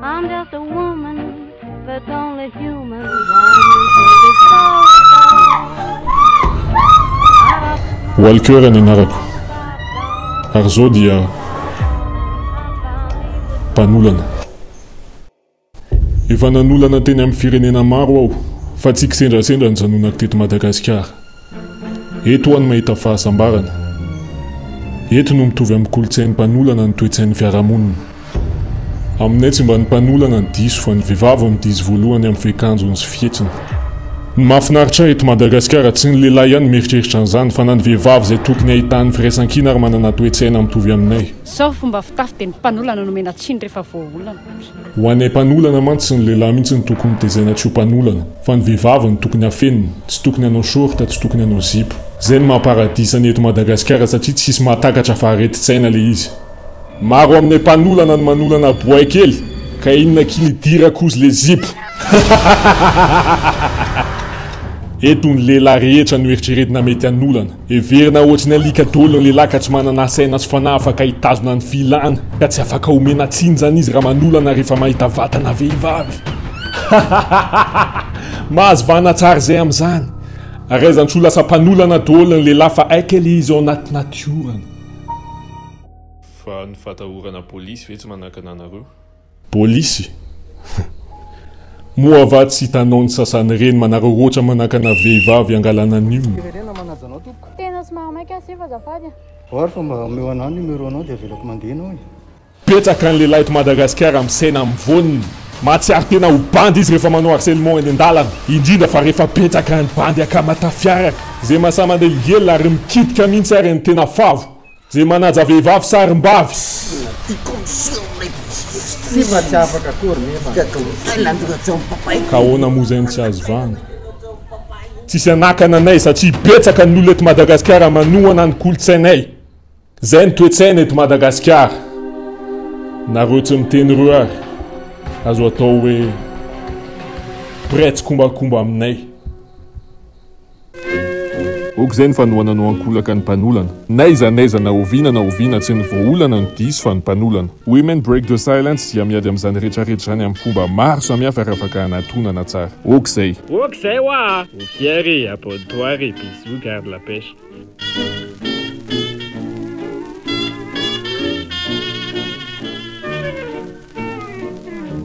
I'm just a woman, but only human. Walker ny anarako. Ary izao dia mpanolana. Efa nanolana teny amin'ny firenena maro aho fa tsy kisendrasendra ny zanonako teto Madagasikara. Eto aho no mahita fahasambarana. Eto no mitovy amin'ny kolontsain'ny mpanolana ny toe-tsain'ny fiarahamonina. Aminay tsy mba ny mpanolana no diso fa ny vehivavy no diso voalohany amin'ny fehikanjony sy fihetsiny. Ny mahafinaritra ahy eto Madagasikara tsy ny lehilahy ihany no mieritreritra an'izany fa na ny vehivavy izay tokony ahitany firaisankina ary manana toe-tsaina mitovy aminay. Sao fomba fitafy dia ny mpanolana no omena tsiny rehefa voaolana. Ho anay mpanolana mantsy ny lehilahy mihitsy no tokony tezaina tsy ho mpanolana fa ny vehivavy no tokony afenina, tsy tokony hanao short, tsy tokony hanao zipo. Zay no maha paradisa ny eto Madagasikara satria tsisy mahatakatra fa aretin-tsaina le izy. Maro aminay mpanolana no manolana boay kely ka inona akia ny dira kozy le zipo hahahahahaha. Eto ny lehilahy rehetra no eritreretina mety hanolana. Heverina ohatry ny alika dolo ny lehilahy ka tsy manana saina sy fanahy afaka hitazona ny filàna ka tsy afaka omena tsiny izany izy raha manolana rehefa mahita vatana vehivavy. Mahazo vahana tsara izay amin'izany ary aizantsy ho lasa mpanolana dolo ny lehilahy fa haika ilay izy ao anaty natiorany. Fa ny fatahorana polisy ve tsy manakana anareo? Polisy? Humm. Moa va tsy hitanao ny sasany ireny manararaotra manakana vehivavy hangalana ny olona? Firenena manaja anao tompoko. Tena somary maika asefa azafady a. Or fa mba omeo anah ny numéro nao dia avelako mandeha enao e. Betsaka ny lehilahy eto Madagasikara misaina mivonona. Mahatsiaro tena ho bandy izy rehefa manao harcèlement eny an-dalana, indrindra fa rehefa betsaka ny bandy akama tafiaraka. Izay mahasahy mandeha higelina ary mikitika mihitsy ary ny tena favo. Je manaja vehivavy sarimbavy. Ka ahoana moa izay no tsy azo vahana? Tsisy hanakana anay satria betsaka ny olona eto Madagasikara manohana ny kolontsainay. Izay no toe-tsaina eto Madagasikara. Nareo tsy miteny ireo ary azo atao hoe mpiray tsikombakomba aminay. Ok zay ny fanohana no ankolaka ny mpanolana. N'aiza n'aiza na oviana na oviana tsy ny voaolana no diso fa ny mpanolana. Women break the silence dia miady amin'izany rehetra rehetra izany amin'ny fomba maro samihafa ary afaka anatonana tsara. Ok zay. Ok zay hoa a! Ho fier e! Abonne toi re! Bisous, garde la pêche.